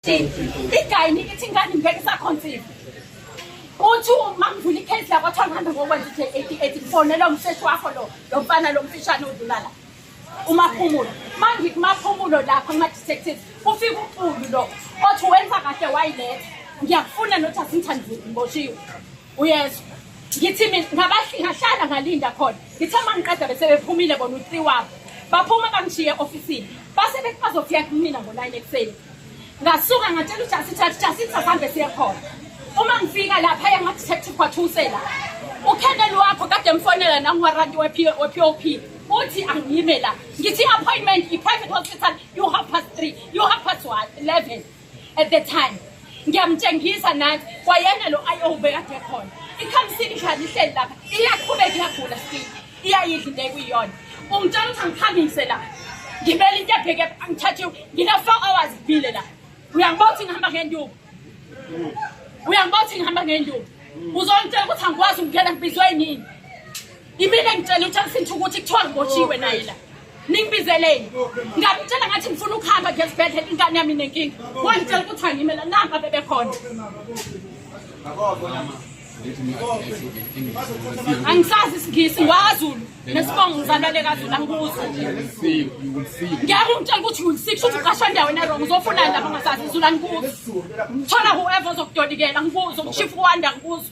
igayini ithi ingane ngeke isakhonsive uthi uma ngivula ikhesi lakwathwa ngihambe ngokwenza i-d eighty eight ngifonela umseshi wakho lo lo mfana lo mfishane odlulala umaphumulo mangikumaphumulo lapha kuma-detectives kufika uqulu lo othi wenza kahle wayiletha ngiyakufuna nothi asingithandi ngiboshiwe uyezwa ngithi mina ngabahlala ngalinda khona ngithe uma ngiqeda bese bephumile bona u-three wabo baphuma bangishiye e-ofisini base bethi bazofika kumina ngo-nine ekuseni ngasuka ngatshela ujasi thathi jasi sahambe siye khona uma ngifika lapha yangadetective kwathusela ukheneli wakho kade mfonela nangiwaranti we-p o p uthi angiyime la ngithi i-appointment i-private hospital you half past three you half past one eleven at the time ngiyamtshengisa nani kwayena lo ayo ubekade khona ikhamsini njani ihleli lapha iyaqhubeka iyagula still iyayidla into ekuyiyona ungitshela ukuthi angikhambise la ngibele into ebheke angithathiwe ngina-four hours ngibile la uyangibona ukuthi ngihamba ngenduku uyangibona ukuthi ngihamba ngenduku uzongitshela ukuthi angikwazi ukungena ngibizwe yini Yimina engitshela uJackson ukuthi kuthiwa ngibotshiwe naye la. Ningibizeleni. Ngamtshela ngathi ngifuna ukuhamba nje esibhedlela ingane yami nenkinga. Wangitshela ukuthi angime la namba bebekhona. Angisazi isingisi ngwaZulu nesibongo ngizalale kaZulu angikuzo. Ngeke ungitshela ukuthi ulisix uthi uqashwa ndawo ena wrong uzofuna lapho ngasazi izulu angikuzo. Thola whoever ozokudodikela angikuzo ngishifa ukwanda angikuzo.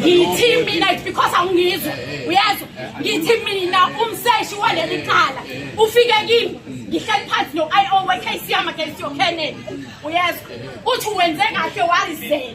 ngithi mina because awungizwa uyezwa ngithi mina umseshi waleli cala ufike kimi ngihleli phansi no-i o we-kcm against your kennedy uyezwa uthi wenze kahle warizela